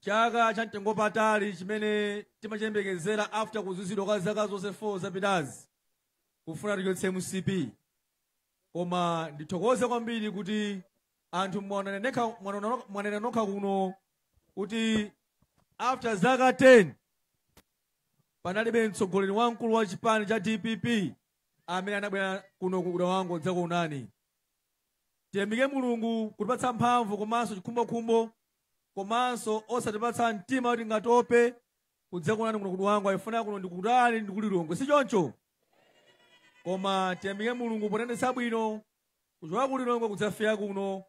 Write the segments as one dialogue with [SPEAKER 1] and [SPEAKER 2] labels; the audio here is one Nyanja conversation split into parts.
[SPEAKER 1] chaka cha mtengo patali chimene timachiyembekezera after kuzunzidwa kwa zaka zonse 4 zapitazi kufuna tichotse mcp koma ndithokoze kwambiri kuti anthu mwanena nokha kuno kuti after zaka 10 panalibe mtsogoleri wamkulu wa chipani cha dpp amene anabwera kuno ku dwangwa kudzakuonani Tiyamike Mulungu kutipatsa mphamvu komanso chikhumbokhumbo komanso osatipatsa mtima kuti tingatope kudzakuonani kuno ku Dwangwa chifukwa kuno ndikutali ndi ku Lilongwe si choncho? Koma tiyamike Mulungu potiyendetsa bwino kuchoka ku Lilongwe kudzafika kuno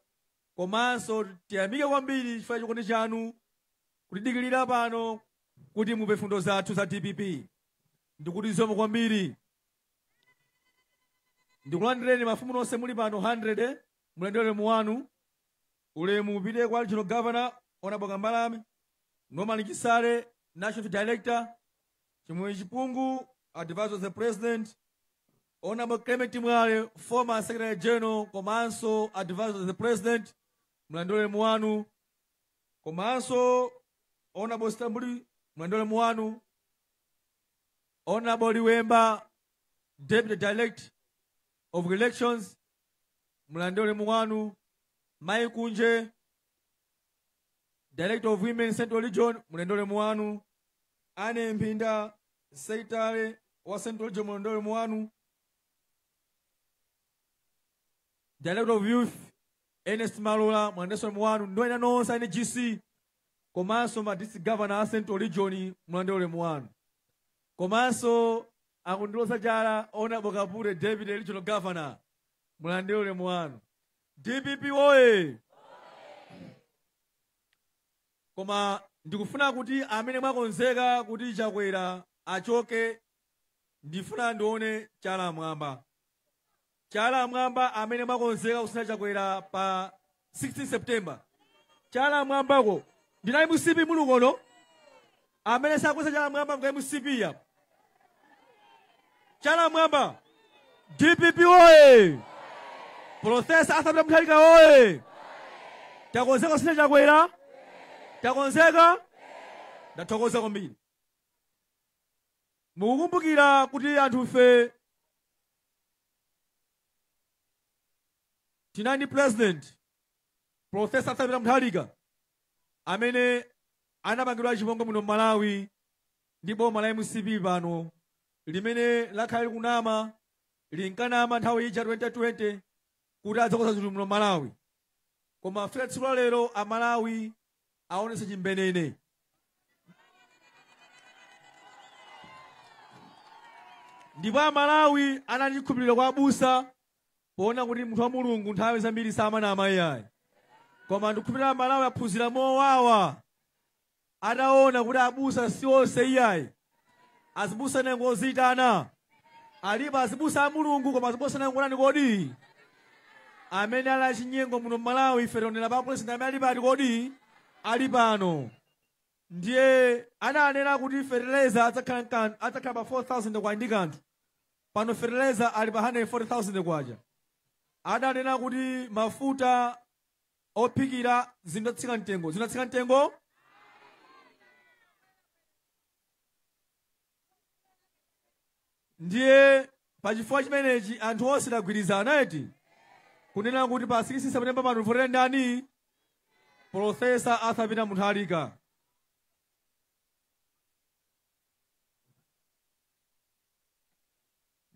[SPEAKER 1] komanso tiyamike kwambiri chifukwa chikondi chanu kutidikirira pano kuti mumve mfundo zathu za DPP ndikuti zikomo kwambiri ndikulandireni mafumu nonse muli pano 100 mulandire ulemu wanu ulemu upite kwa regional governor honorable kambalame norman chisale national director chimwemwe chipungu advisor of the president honorable clement mwale former secretary general komanso advisor of the president mulandire ulemu wanu komanso honorable stambuli mulandire ulemu wanu Honorable Liwemba, Deputy Director of Elections, mulandire ulemu wanu. Mai Kunje, Director of Women Central Region, mulandire ulemu wanu. Anne Mpinda, Secretary wa Central Region, mulandire ulemu wanu. Director of Youth, Ernest Malola, mulandire ulemu wanu. Ndi ena nonse a NGC, komanso ma district governor a central region mulandire ulemu wanu komanso akundiloza chala honorable kapure deputy regional governor mulandire ulemu wanu dpp woye koma ndikufuna kuti amene mwakonzeka kuti chakwera achoke ndifuna ndione chala mwamba Chala mwamba amene mwakonzeka kusintha chakwera pa 16 september chala mwamba kodi a mcp muli kuno amene sakweza chala mwamba ngwa mcp ya chala mwamba dpp oye profesa arthur peter mutharika oye takonzeka kusintha chakwera takonzeka ndathokoza kwambiri mukukumbukira kuti anthufe Tinali ndi pulezidenti, Professor Arthur Peter Mutharika, amene anapangidwa chipongwe muno m'Malawi ndi boma la mcp pano limene lakhala likunama linkanama nthawi ija 2020 kuti adzakonza zinthu muno m'Malawi koma fika tsiku la lero amalawi aonetse chimene nene ndipo amalawi anali chikhulupiriro kwa abusa poona kuti munthu wa mulungu nthawi zambiri samanama iyayi koma ndikukhulupirira amalawi aphunzira mowawa ataona kuti abusa si onse iyayi azibusa ena ngoziitana alipo azibusa a mulungu koma azibusa ena ngotani kodi amene ali achinyengo muno mmalawi ife tionera pa pulezidenti amene ali pati kodi ali pano ndiye ananena kuti fertilizer adzakhala pa 4000 kwacha ndi kanthu pano fertilizer ali pa 140000 kwacha adanena kuti mafuta ophikira zidzatsika mtengo zinatsika mtengo ndiye pa chifukwa chimenechi anthu onse tagwirizana eti kunena kuti pa 6 september pano tivotera ndani profesa arthur peter mutharika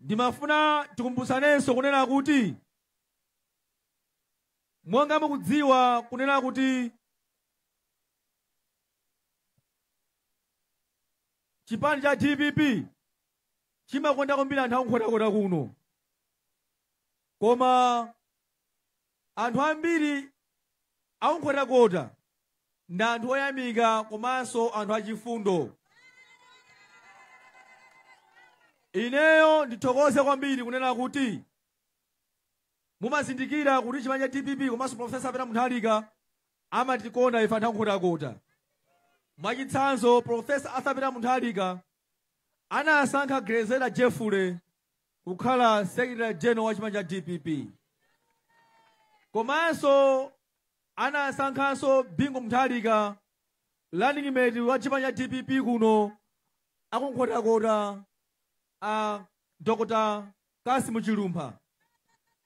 [SPEAKER 1] ndimafuna tikumbutsanenso kunena kuti monga mukudziwa kunena kuti chipani cha dpp chimakonda kwambiri anthu akunkhotakota kuno koma anthu ambiri akunkhotakota ndi anthu oyamika komanso anthu achifundo ineyo ndithokoze kwambiri kunena kuti Mumazindikira kuti chipani cha dpp komanso Professor Peter Mutharika amatikonda ife anthu akunkhotakota. Mwachitsanzo Professor Arthur Peter Mutharika anasankha Grezelder Jeffrey kukhala Secretary General wa chipani cha dpp. Komanso anasankhanso Bingu Mutharika running mate wa chipani cha dpp kuno akunkhotakota a Dr. Cassim Chilumpha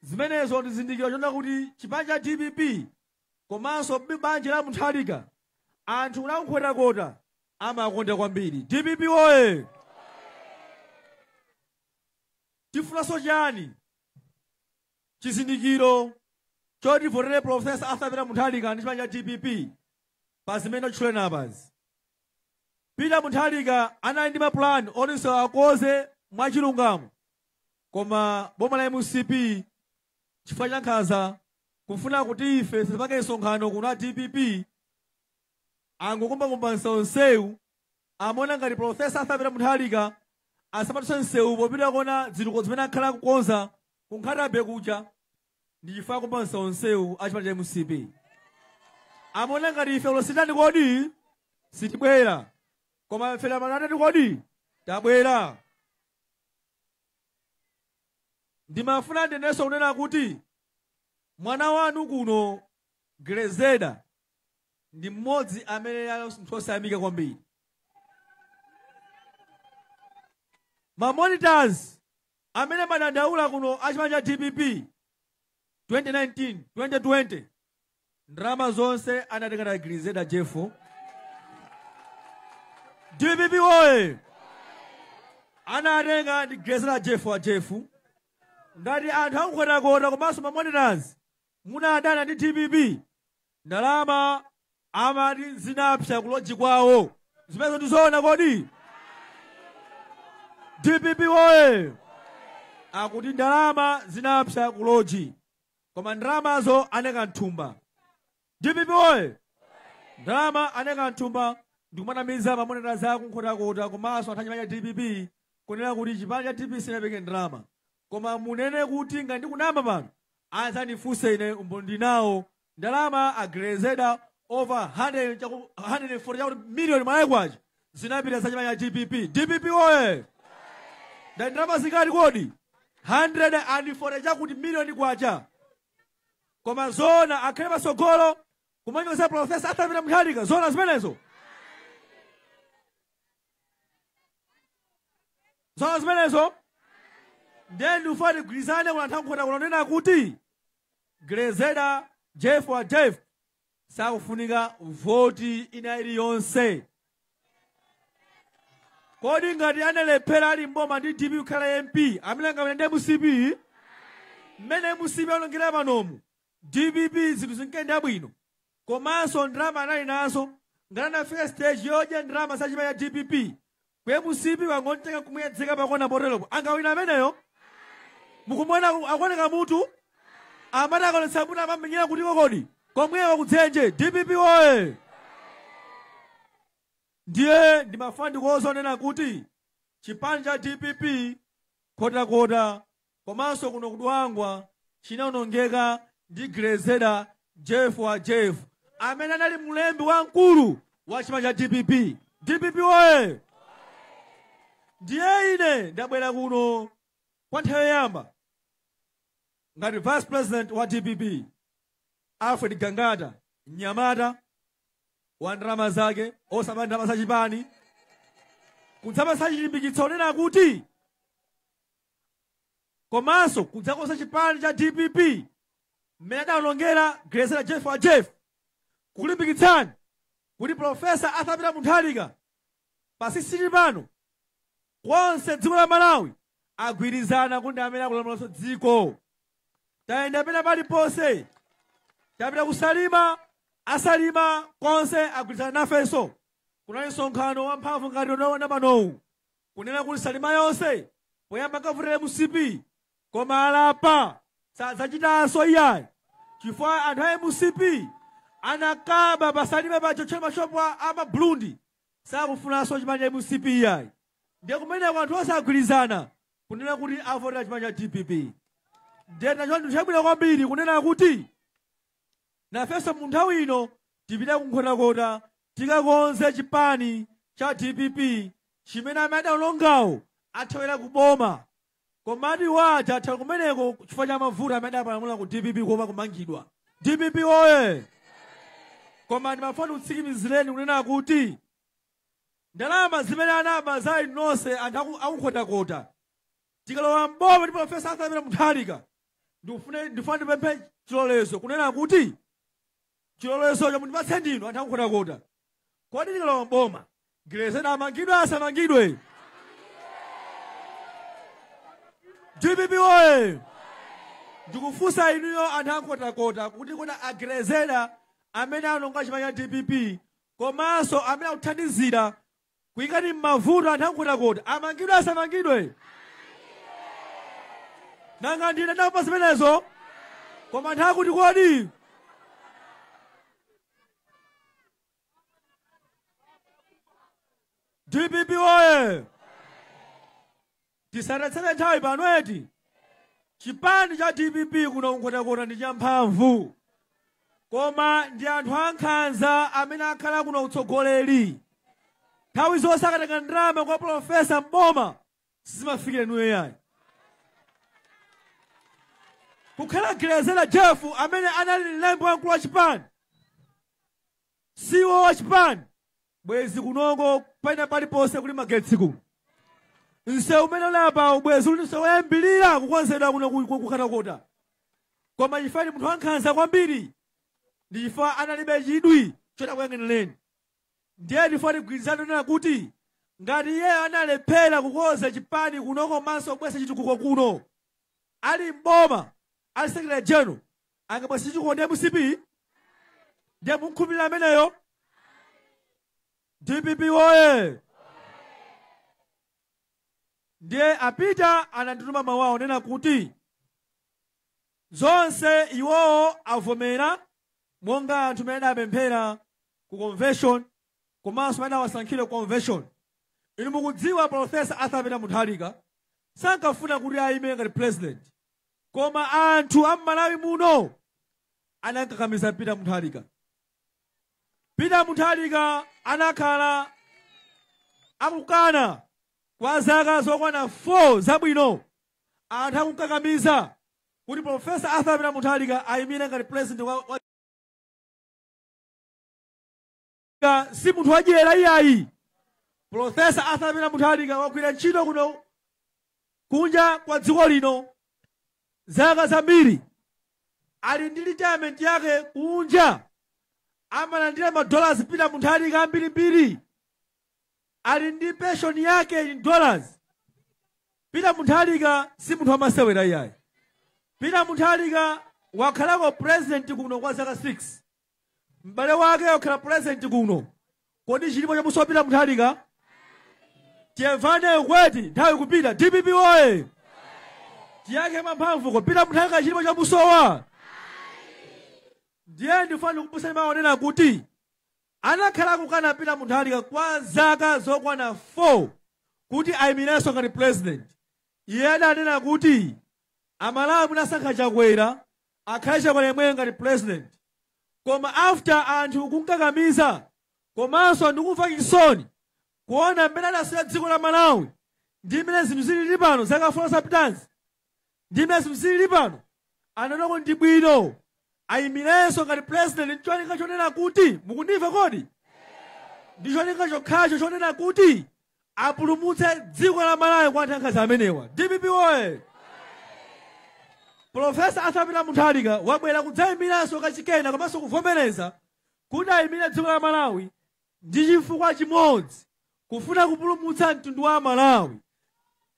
[SPEAKER 1] zimenezo ndi chizindikiro chonena kuti chipani cha dpp komanso banja la Mutharika anthu a Nkhotakota amakonda kwambiri? Dpp woye! Tifunanso chani? Chizindikiro choti tivotere Professor Arthur Peter Mutharika ndi chipani cha dpp? pa zimene tatchulena apazi. Peter Mutharika anali ndi maplan oti nsewu akonze mwachilungamo koma boma la mcp chifukwa cha nkhanza kufuna kuti ife tisapange msonkhano kuno a dpp angokumbakumba msewu msewu amaona ngati profesa arthur peter mutharika asadutse msewu popita kukaona zitukuko zimene akhala kukonza ku nkhata bay kuja Ndi chifukwa akupansa onsewo a chipani cha mcp amaona ngati ife lero sititani kodi sitibwera koma ife lero tatani kodi tabwera ndimafuna ndinenenso kunena kuti mwana wanu kuno grezeda ndi mmodzi amene ali munthu osayamika kwambiri mamonitors Amene amadandaula kuno a chipani cha dpp 2019 2020 ndalama zonse anatenga ndi Grezeda Jeffu. Dpp woye! Anatenga ndi Grezeda Jeffu wa Jeffu. Ngati anthu a ku Nkhotakota komanso mamonitors Munadana ndi dpp ndalama amati zinapsa ku lodge kwawo. Zimenezo ndi zoona kodi? Dpp woye! Akuti ndalama zinapsa ku lodge koma ndalamazo anaika mthumba. Dpp woye! Ndalama anaika mthumba ndikumanamiza mamonitors a ku Nkhotakota komanso anthu a chipani cha dpp kunena kuti chipani cha dpp sinapereke ndalama. Koma ndinene kuti ngati ndikunama pano adzandifunse ine umboni ndili nawo. Ndalama a Grezeda over 100 chaku 140 chakuti million Malawi kwacha zinapita za chipani cha dpp. Dpp woye! Ndati ndalama zingati kodi? 140 chakuti million kwacha. Koma zoona akhale patsogolo kumanyoza Professor Arthur Peter Mutharika zoona zimenezo. zoona zimenezo ndiye ndikufuna tigwirizane kuno ku nkhota kunena kuti grezeda jeff wa jeff sakufunika voti ina iliyonse kodi ngati analephera ali mboma ndi dpp kukhala mp amene angawine ndi mcp mmene mcp aonongera panomu Dpp zinthu zinkayenda bwino komanso ndalama anali nazo ngati anafika stage yodya ndalama za chipani cha dpp ku mcp angomutenga nkumuyedzeka pakona poteropo angawina ameneyo mukumuona aku- akuoneka mutu amati akaonetsa mutu amamenyera kutiko kodi komweko kudzenje dpp woye ndiye ndimafuna ndikuuzeni onena kuti chipani cha dpp nkhotakota Komanso kuno ku Dwangwa chinaonongeka ndi Grezeder Jeff wa Jeff amene anali mlembi wamkulu wa chipani cha dpp. Dpp woye! Ndiye ine ndabwera kuno kwa nthawi yoyamba ngati vice president wa dpp Alfred Gangata, mnyamata wa ndalama zake osaba ndalama za chipani kudzapatsa chilimbikitso chonena kuti komanso kudzakonza chipani cha dpp mmene adaonongera Grezera Jeff wa Jeff kukulimbikitsani kuti Profesa Arthur Peter Mutharika pa 16 pano konse dziko la Malawi agwirizana kuti ndi amene akulamulanso dziko tayenda pena paliponse tapita ku Salima a Salima konse agwirizana nafenso kunali msonkhano wamphamvu ngati unaona panowu kunena kuti salima yonse poyamba ankavotera mcp koma alapa sadzachitanso iyayi chifukwa anthu a mcp anakaba pa salima potiotchera mashopu a mabulundi sakufunanso chipani cha mcp iyayi ndiye kumeneko anthu onse agwirizana kunena kuti avotera chipani cha dpp ndiye ndi chinthu chabwino kwambiri kunena kuti nafenso mu nthawi ino tipite kunkhotakota Tikakonze chipani cha dpp chimene amene adaonongawo athawira ku boma. Komatu iwo aja athawira kumeneko chifukwa cha mavuto amene adapalamula ku dpp kuopa kumangidwa. Dpp woye! Koma ndimafuna ndikutsikimizireni kunena kuti ndalama zimene anaba za inu nonse anthu aku- aku Nkhotakota tikalowa m'boma ndi Professor Arthur Peter Mutharika ndifuna ndipemphe chilolezo kunena kuti chilolezocho mundipatse ndinu anthu akunkhotakota kodi tikalowa mboma gilezeda amangidwe asamangidwe dpp oye ndikufunsa inuyo anthu akunkhotakota kuti kodi agilezeda amene anaononga chipani cha dpp komanso amene akuthandizira kukuikani mmavuto anthu ankhotakota amangidwe asamangidwe nanga ndine ndamva zimenezo koma anthu akuti kodi dpp oye Tisatayitse nthawi pano eti? Chipani cha dpp kuno ku Nkhotakota ndi champhamvu. Koma ndi anthu ankhanza amene akhala kuno utsogoleri. Nthawi zonse akatenga ndalama kwa Profesa Mboma sizimafikira inuyo yayi. Kukhala Gilezera Jeff amene anali mlembi wamkulu wa chipani CEO wachipani bwezi kunoko pena paliponse kuli magetsi kuno nsewu umene uli apawu bwezi uli nsewu woyambirira kukonzedwa kuno ku- kunkhotakota koma chifukwa ndi munthu wankhanza kwambiri ndi chifukwa analibe chidwi choti akuyang'anireni ndiye ndifuna tigwirizane kunena kuti ngati iyeyo analephera kukonza chipani kuno komanso kubweretsa chitukuko kuno ali mboma ali secretary general akabwa sichikondi mcp ndiye mumkhulupirira ameneyo dpp woye ndiye a peter anandituma mawu onena kuti zonse iwowo avomera monga anthu amene adapemphera ku convention komanso amene awasankhire ku convention inu mukudziwa profesa arthur peter mutharika sankafuna kuti ayime ngati president Koma anthu a m'Malawi muno anamkakamiza Peter Mutharika. Peter Mutharika anakhala akukana kwa zaka zokwana 4 zabwino. Anthu akumkakamiza kuti Professor Arthur Peter Mutharika ayimire ngati president wa, wa Mutharika si munthu wadyera iyayi. Professor Arthur Peter Mutharika wagwira ntchito kuno kunja kwa dziko lino zaka zambiri. Ali ndi retirement yake kunja amalandira madollars Peter Mutharika ambirimbiri. Ali ndi pension yake in dollars. Peter Mutharika si munthu wamasewera iyayi. Peter Mutharika wakhalako president kuno kwa zaka 6. m'bale wake wakhala pulezidenti kuno kodi chilipo chamusowa peter mutharika tiyemvane kweti nthawi ikupita dpp woye tiyankhe mwamphamvu ko peter mutharika chilipo chamusowa ndiye ndifuna kukumbutsani mawu onena kuti anakhala akukana peter mutharika kwa zaka zokwana 4 kuti ayimirenso ngati pulezidenti iye adanena kuti amalawi munasankha chakwera akhale chakwera yemweyo ngati president koma after anthu kumkakamiza komanso ndikumva chisoni kuona mmene adasiyira dziko la malawi ndi mmene zinthu zilili pano zaka 4 zapitazi ndi mmene zinthu zilili pano anaona kuti ndi bwino ayimirenso ngati president ndi cholinga chonena kuti mukundimva kodi ndi cholinga chokhacho chonena kuti apulumutse dziko la malawi kwa anthu ankhanza amenewa dpp oye profesa arthur peter mutharika wabwera kudzayimiranso kachikena komanso kuvomereza kuti ayimire dziko la malawi ndi chifukwa chimodzi kufuna kupulumutsa mtundu wa amalawi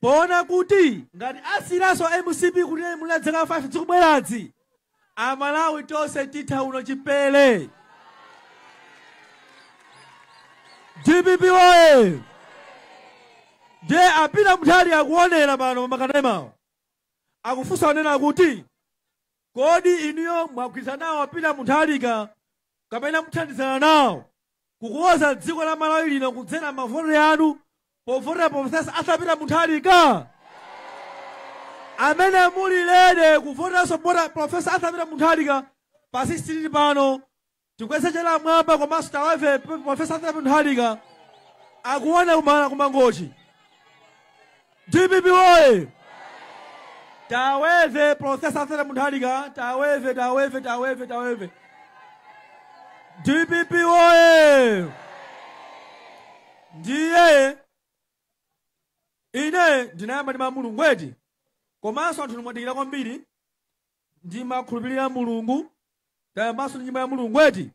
[SPEAKER 1] Poona kuti ngati asiyiranso mcp kuti ilamule dzaka 5 dzikubweradzi amalawi tonse titha uno chipele dpp oye ndiye a peter mutharika akuonera pano pa makanemawo akufunsa onena kuti Kodi inuyo mwagwirizana nawo a Peter Muntharika kapena muthandizana nawo kukonza dziko la Malawi lino kudzera mavote anu povotera Professor Arthur Peter Muntharika? Amene muli ready kuvoteranso boma Professor Arthur Peter Muntharika pa 16 pano Tikweze chala m'mwamba komanso taweve Profesa Arthur Peter Mutharika akuona kuno kumangochi. DPP woye! Taweve Profesa Arthur Peter Mutharika, taweve, taweve, taweve, taweve. DPP woye! Ndiye ine ndimayamba ndi mawu a Mulungu eti komanso anthu mwadikira kwambiri Ndimakhulupirira Mulungu. Tayambanso ndi nyimbo ya Mulungu eti?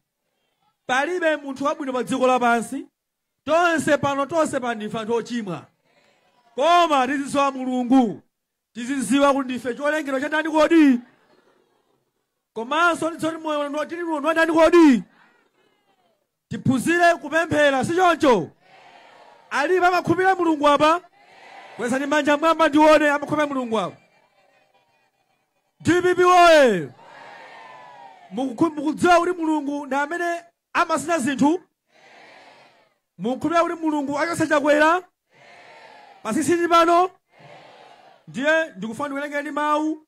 [SPEAKER 1] Palibe munthu wabwino pa dziko lapansi. Tonse pano, tonse pano ndife anthu ochimwa. Koma tizidziwa Mulungu. Tizidziwa kuti ndife cholengedwa cha ndani kodi? Komanso tidziwe kuti moyo uno tili nawo ndi wa ndani kodi? Tiphunzire kupemphera, si choncho? Alipo amakhulupirira Mulungu apa? Kwezani manja m'mwamba ndione amakhulupirira Mulungu apa. DPP woye! Mukudziwa kuti Mulungu ndi amene amasintha zinthu? Mukukhulupirira kuti Mulungu achotsa Chakwera pa 16 pano? Ndiye ndikufuna ndikuwerengereni mawu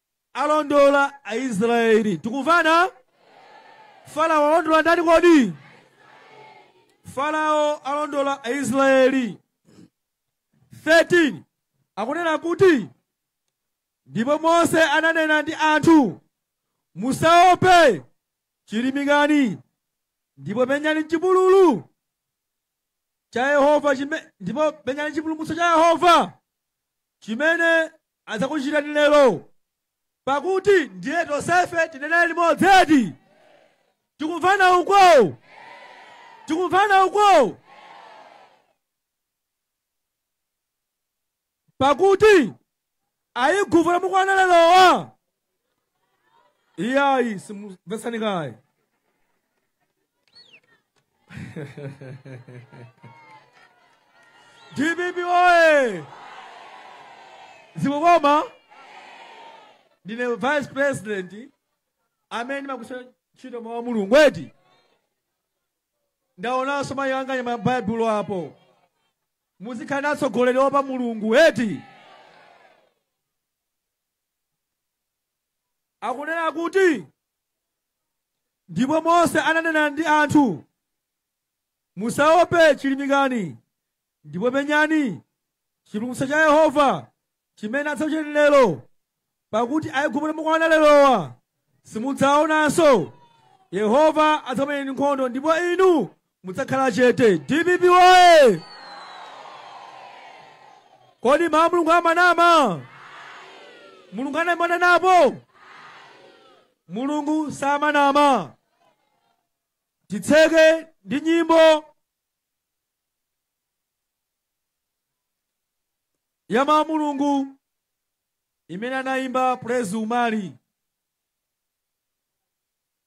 [SPEAKER 1] alondola aisraeli tikumvana farao alondola ndani kodi farao alondola aisraeli 13 akunena kuti ndipo mose ananena ndi anthu musaope chilimikani ndipo penyani chipululu cha yehova ndipo penyani chipulumutso cha yehova chimene adzakuchitirani lero, pakuti ndiye tonsefe tinene limodzi eti? Tikumvana uko? Tikumvana uko? Pakuti Aigupto mukuwaona lerowa iyayi tamvetsani kaye dpp oye zikukoma ndine vice president amene ndimagwiritsa ntchito mawu a mulungu eti ndaonanso mayi anga anyamula baibulo apo muzikhala ndi atsogoleri oopa mulungu eti akunena kuti ndipo mose ananena ndi anthu musaope chilimikani ndipo penyani chipulumutso cha yehova chimene adzakuchitirani lero pakuti aigupto mukuwaona lerowa simudzaonanso yehova adzakumenyerani nkhondo ndipo inu mudzakhala chete dpp woye kodi mawu a mulungu amanama mulungu ananamapo mulungu samanama titseke ndi nyimbo ya mawu a mulungu imene anayimba praise umali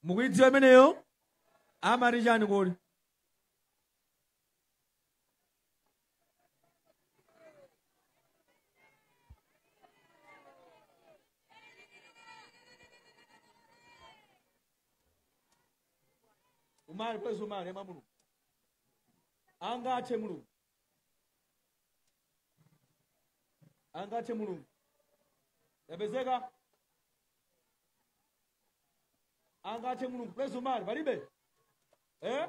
[SPEAKER 1] mukuyidziwa imeneyo amati chani kodi umali praise umali ya mawu a mulungu angathe mulungu angathe mulungu yapezeka angathe mulungu praise umali palibe eh?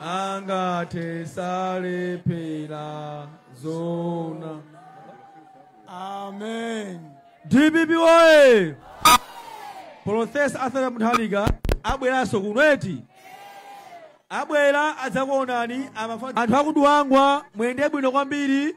[SPEAKER 1] angathe salephera
[SPEAKER 2] zoona amen dpp
[SPEAKER 1] oye profesa arthur mutharika abweranso kuno eti abwera adzakuonani amafana anthu akuduwangwa muyende bwino kwambiri